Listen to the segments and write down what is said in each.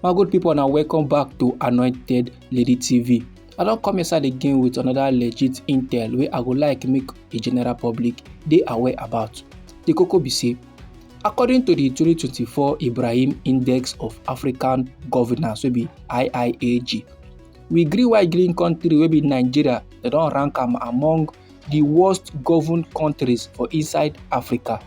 my good people now welcome back to anointed lady tv i don't come inside again with another legit intel where i would like make a general public they aware about the cocoa be say according to the 2024 ibrahim index of african governance will be iiag we gree why green country will be nigeria They don't rank am among di worst governed kontris for inside africa.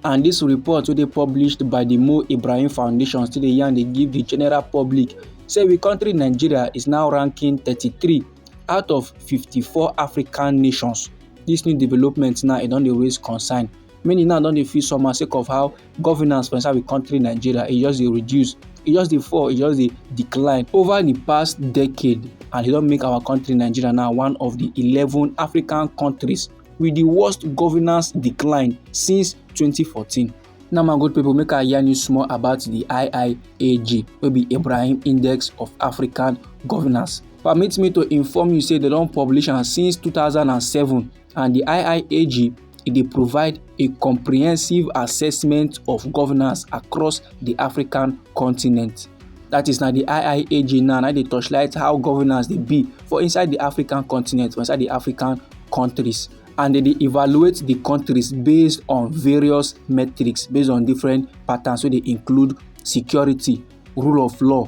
and dis report wey dey published by di mo ibrahim foundation still dey yarn dey give di general public say we kontri nigeria is now ranking 33 out of 54 african nations dis new development now e don dey raise concern many now don dey feel somehow sake of how. governance for inside the country nigeria e just dey reduce e just dey fall e just dey decline over the past decade and e don make our country nigeria now one of the eleven african countries with the worst governance decline since 2014 now my good people make i yarn you small about the iiag wey be ibrahim index of african governance permit me to inform you say they don publish am since 2007 and di IIAG e dey provide a comprehensive assessment of governance across di african continent that is na di IIAG now na dey torchlight how governance dey be for inside di african continent for inside di african countries and they dey evaluate the countries based on various metrics based on different patterns wey dey include security rule of law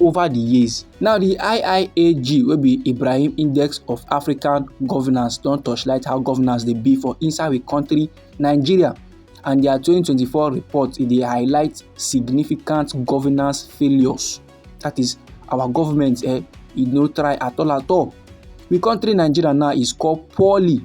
over di years. Now di IIAG wey be Ibrahim Index of African Governance don torchlight how governance dey be for inside di country Nigeria and their 2024 report e dey highlight significant governance failures that is our government eh, e no try at all at all. The country Nigeria now is called poorly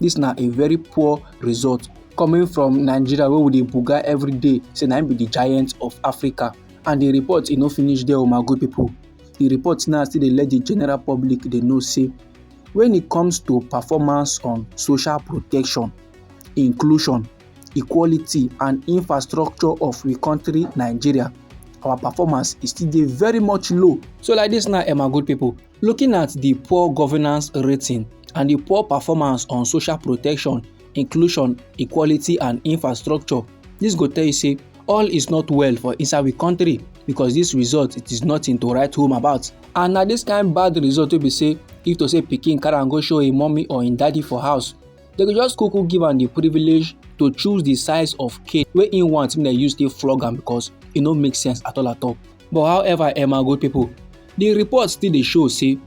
dis na a very poor result coming from nigeria wey we dey buga every day say na im be di giant of africa and di report e no finish there o oh my good pipo di report now still dey let di general public dey know say when e comes to performance on social protection inclusion equality and infrastructure of we country nigeria our performance is still dey very much low so like dis now eh my good pipo Looking at di poor governance rating and di poor performance on social protection, inclusion, equality and infrastructure, dis go tell you say all is not well for inside we country because dis result it is nothing to write home about. And na dis kind bad result wey be say if to say pikin carry am go show im mummy or im daddy for house, dem go just kuku give am di privilege to choose di size of cane wey im want make dem use take flog am because e no make sense at all at all. But however, Emma good pipo, Di report still dey show say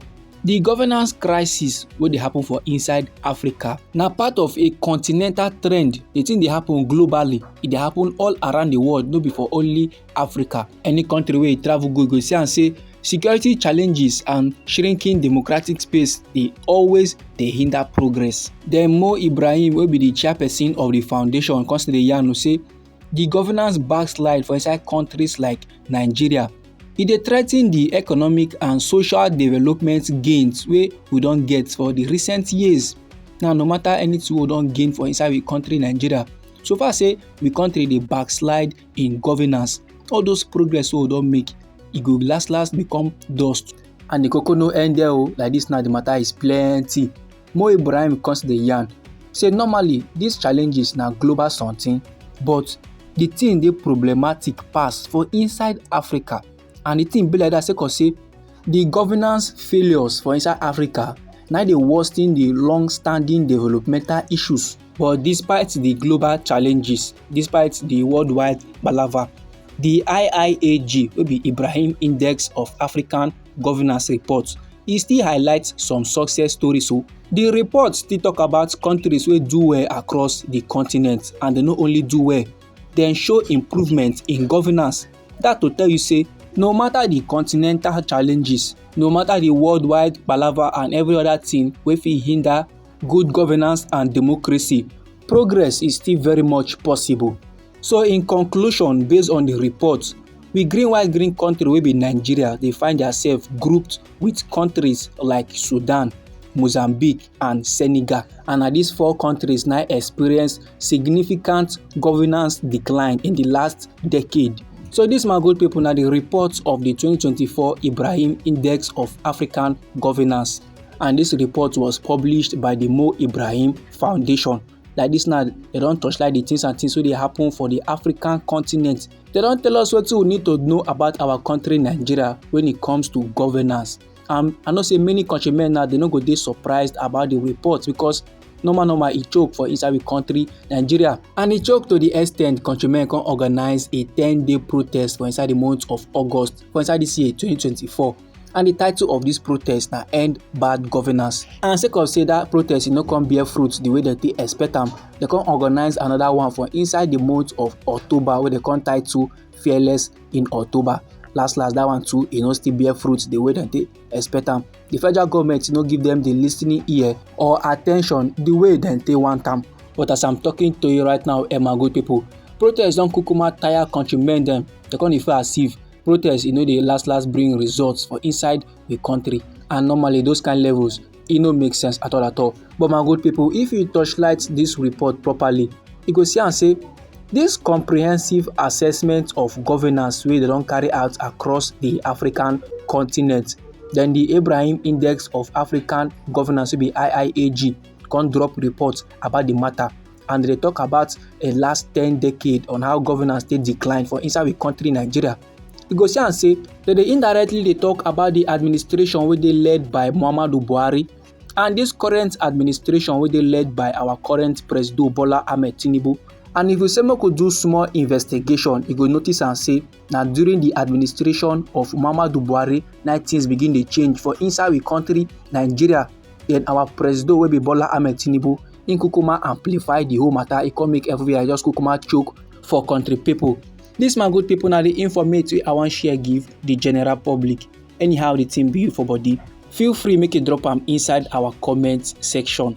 di governance crisis wey dey happen for inside Africa na part of a continental trend. Di tin dey happen globally, e dey happen all around di world, no be for only Africa. Any country wey you travel go, you go see am say security challenges and shrinking democratic space dey always dey hinder progress. Den Mo Ibrahim wey be di chairperson of di foundation come still dey yarn say di governance backslide for inside countries like nigeria e dey threaten di economic and social development gains wey we don get for di recent years now no matter anything we don gain for inside we country nigeria so far say we country dey backslide in governance all those progress wey we don make e go last last become dust and the koko no end there o oh, like this now the matter is plenty Mo Ibrahim come still dey yarn say normally dis challenges na global something but di thing dey problematic pass for inside Africa and di thing be like dat sake of say di governance failures for inside Africa na dey worsen di long standing developmental issues. But despite di global challenges, despite di worldwide palava, di IIAG wey be Ibrahim Index of African governance report e still highlight some success stories o. Oh. The report still talk about countries wey do well across the continent and dem no only do well, dem show improvement in governance. That to tell you say no matter the continental challenges, no matter the worldwide palava and every other thing wey fit hinder good governance and democracy, progress is still very much possible. So in conclusion, based on the report, we green white green country wey be Nigeria dey find themselves grouped with countries like Sudan, Mozambique and Senegal and na these four countries now experience significant governance decline in the last decade. So this my good people now the report of the 2024 Ibrahim Index of African Governance and this report was published by the Mo Ibrahim Foundation. like this now they don't touch like the things and things wey dey happen for the african continent They don't tell us what we need to know about our country nigeria when it comes to governance and i know say many countrymen now they no go dey surprised about the report because normal normal e choke for inside the country nigeria and e choke to the extent countrymen come organize a ten day protest for inside the month of august for inside this year 2024 and di title of dis protest na end bad governance and sake of say dat protest e no come bear fruit di way dem take expect am dem come organise anoda one for inside di month of october wey dem come title fearless in october last last dat one too e no still bear fruit di way dem take expect am di federal goment no give dem di listening ear or attention di way dem take want am but as i'm talking to you right now emma good pipo protest don kukuma tire countrymen dem dem come dey feel as if protest e no dey last last bring results for inside the country and normally those kind levels e no make sense at all at all but my good people if you torchlight this report properly you go see am say this comprehensive assessment of governance wey dem don carry out across the african continent then the ibrahim index of african governance wey be iiag come drop report about the matter and they talk about a last 10 decade on how governance dey decline for inside we country nigeria you go see am say dem dey indirectly dey talk about the administration wey dey led by muhammadu buhari and this current administration wey dey led by our current president bola ahmed tinubu and if you say make we do small investigation you go notice am say na during di administration of muhammadu buhari na tins begin dey change for inside we kontri nigeria den our presido wey be bola ahmed tinubu im kukuma amplify di whole mata e come make everywhere just kukuma choke for kontri pipo dis my good pipo na di informate wey i wan share give di general public anyhow di tin be you for body feel free make you drop am inside our comment section